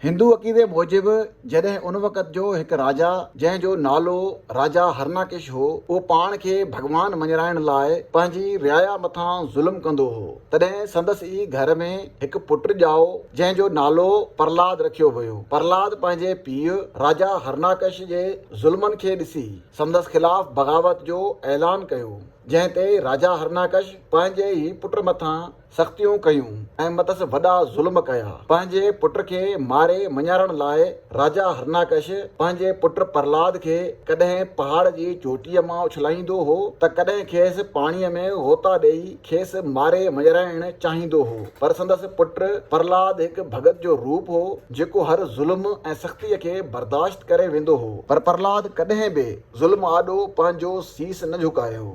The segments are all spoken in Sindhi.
هندو عقيدي موجب جڏهن ان وقت جو هڪ راجا جنهن جو نالو راجا هرناڪش هو اهو پاڻ کي ڀڳوان مڃرائڻ لاء پنهنجي رعايا مٿان ظلم ڪندو هو تڏهن سندس ئي گهر ۾ هڪ پٽ ڄائو جنهن جو نالو پرلاد رکيو ويو پرلاد پنهنجي پيء راجا هرناڪش جي ظلمن کي ڏسي سندس خلاف بغاوت جو اعلان ڪيو جنهن تي راجا هرناڪش پنهنجي ئي پٽ مٿان سختيون ڪيون ۽ مٿس وڏا ظلم ڪيا. پنهنجي پٽ کي ماري مڃارڻ لاء راجا هرناڪش پنهنجي پٽ پرهلاد کي ڪڏهن پهاڙ جي چوٽيء مان اڇلائيندو هو ته ڪڏهن کيس پاڻيء ۾ غوطا ڏيئي کيس ماري مڃرائڻ چاهيندو هو پر سندس پٽ پرهلاد هڪ ڀڳت جو روپ هو جيڪو هر ظلم ۽ سختيء کي برداشت ڪري ويندو هو. پر پرهلاد ڪڏهن به ظلم آڏو پنهنجو سيس نه جهڪايو.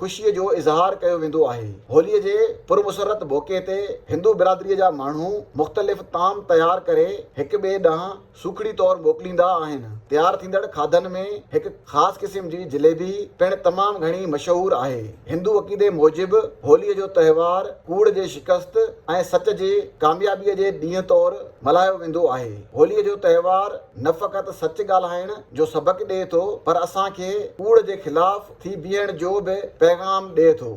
خوشي جو اظهار ڪيو ويندو آهي. هولي جي پرمسرت موقعي تي هندو برادري جا ماڻهو مختلف طعام تيار ڪري هڪ ٻئي ڏانهن سوکڙي طور موڪليندا آهن. تيار ٿيندڙ کاڌن ۾ هڪ خاص قسم جي جليبي پڻ تمام گهڻي مشهور آهي. هندو عقيدي موجب هولي جو تهوار ڪوڙ جي شڪست ۽ سچ جي ڪاميابي جي ڏينهن طور ملهايو ويندو آهي. هولي جو تهوار نه فقط سچ ڳالهائڻ، جو سبق ڏئي ٿو پر اسان کي ڪوڙ جي خلاف ٿي بيهڻ جو به پيغام ڏئي ٿو.